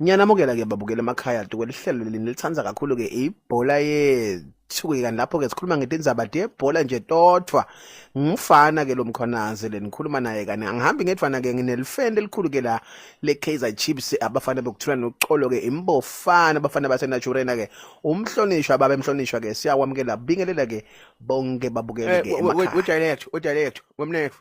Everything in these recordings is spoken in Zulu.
Ngiyanamukela ke babukela emakhaya duke lihlelo leli nilithanda kakhulu ke ibhola yethu ke kanti lapho ke sikhuluma ngetindzaba de bhola nje todwa ngumfana ke lomkhonazi le nikhuluma naye kani angihambi ngedwana ke nginelifende elikhulu ke la le Kaizer Chiefs abafana bekuthula noxolo ke imbofana abafana base Naturena ke umhlonishwa baba emhlonishwa ke siyakwamukela bingelela ke bonke babukele eh, ke emakhaya. Wejayele yethu, wejayele yethu, wemnethu.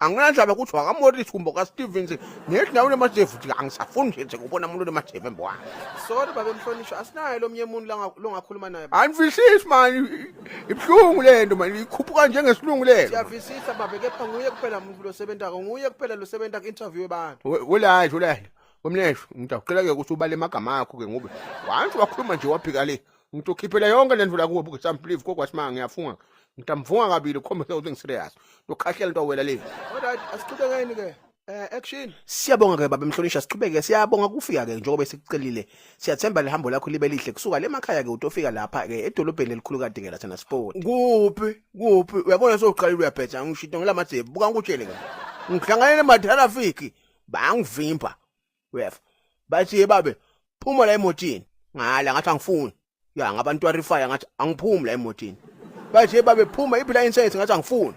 anginandaba ukuthi wakamorisi kumbe kastevens nezindaweni emajevuti angisafuni nje nje kubona umuntu onemajevu embwana sorry babe mhlonishwa asinaye lo mnye muntu langa- longakhuluma naye anifisisi mani ibuhlungu le nto mani ikhuphuka njengesilungu le nto siyavisisa babe kepha nguye kuphela muntu losebentako nguye kuphela losebenta ku-interview abantu We- welayi welayi wemlesho mntu akuqela-ke ukuthi ubale emagama akho ke ngoba once wakhuluma nje waphika le ngitokhiphela yonke lento la kuwe buke some believe kokwasimanga ngiyafunga ngitamfunga kabili ukhombise ukuthi ngiserious ndokhahlela into awela le alright asiqhubekeni ke eh action siyabonga ke baba mhlonisha siqhubeke siyabonga kufika ke njengoba sikucelile siyathemba lihambo lakho libe lihle kusuka le makhaya ke utofika lapha ke edolobheni elikhulu kade ngela thana sport kuphi kuphi uyabona soqalile uyabhetha ngishito ngelamathe buka ngikutshele ke ngihlangane nematherafiki bangivimba uyeva bathi ye babe phuma la emotini ngala ngathi angifuni ya ngabantu arifaya ngathi angiphumi la emotini bathi ye babe phuma iphi la insurance ngathi angifuni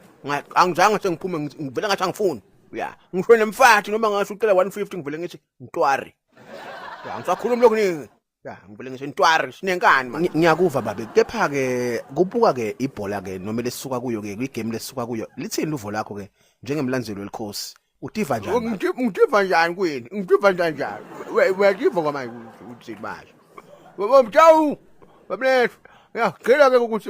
angizange sengiphume ngivele ngathi angifuni ya ngisho nemfathi noma ngasho ucela 150 ngivele ngithi ngitwari ya ngisakhuluma lokhu Ya, ngivele ngisho intwari sinenkani manje. Ngi- Ngiyakuva babe, kepha ke kubuka ke ibhola ke noma lesuka kuyo ke kwigame lesuka kuyo. Lithini luvo lakho ke njengemlandzeli welikhosi? Utiva njani? manje? Ngithi- Ngitiva njani kwini? Ngitiva njani njani? We- Uyativa kwamanje ukuthi uthini manje? Baba Mtawu, bamlethu. Ya, ngicela ke ukuthi